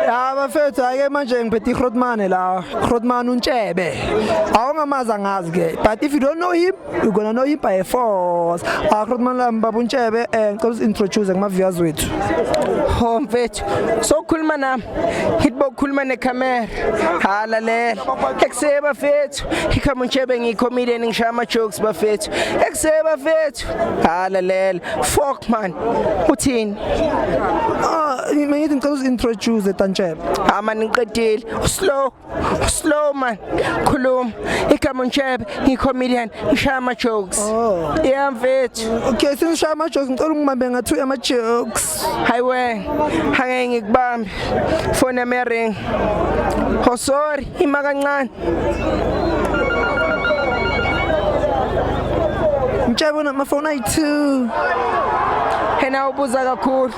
Ya bafethu ake manje ngiphethe iGrotman la. Grotman untshebe. Awungamazi angazi ke. But if you don't know him, you gonna know him by force. Ah Grotman la mbaba untshebe eh ngicela introduce kuma viewers wethu. Ho mfethu. So khuluma nami. Hitbo khuluma ne camera. Hala le. Ekuseba bafethu. Ikhama untshebe ngi comedian ngishaya ama jokes bafethu. Ekuseba bafethu. mfowethu halalela ah, fuck man uthini ah mina ngithi ngicela uzintroduce tantshebe ah man ngiqedile slow slow man khuluma igama ntshebe ngicomedian ngishaya ama jokes oh yeah mfethu okay singishaya ama jokes ngicela ungibambe ngathu ama jokes hayiwe hangeke ngikubambe phone yami ring oh sorry ima kancane mtshebe unamafoni ayi-two yena ubuza kakhulu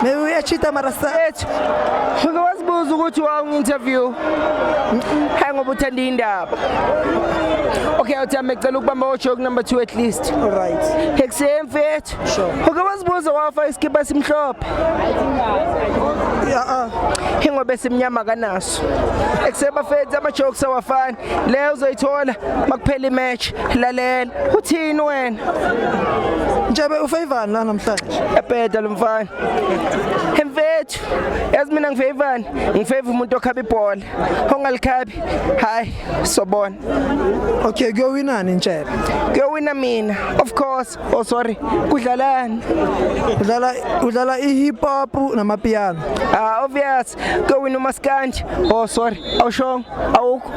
maybe uyachita mara sethu uke wazibuza ukuthi wawungi-interview hayi ngoba uthanda indaba okay uthi amecela ukubamba ojoke number two at least right ekuseni mfethu uke wazibuza wafa isikipa simhlophe ya-a ingoba esimnyama kanaso Jokes ekuse bafethu ama jokes awafani leyo uzoyithola makuphela imatch lalela uthini wena Njebe ufavani la namhlanje ebheda lomfana emfethu yazi mina ngifavani ngifava umuntu okhaba ibhola ongalikhabi hayi sobona Okay kuyowinani Njebe kuyowina mina of course oh sorry kudlalani udlala udlala i hip hop namapiano ah obvious West kewina umaskandi oh sorry awushongo awukho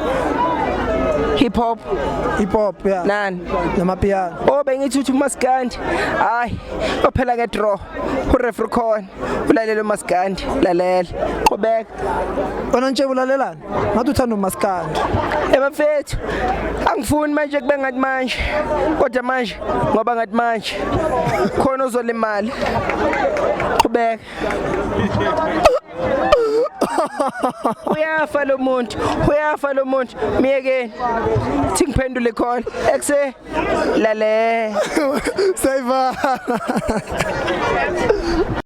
hip hop hip hop yeah nani namapiano oh bengithi uthi umaskandi hayi ophela ke draw ureferee khona ulalele umaskandi lalela qhubeka wena nje ulalelani ngathi uthanda umaskandi ebafethu eh, angifuni manje kube ngathi manje kodwa manje ngoba ngathi manje khona uzolimala qhubeka uyafa lo muntu uyafa lo muntu myekeni thi ngiphendule khona ekuse lale sayivala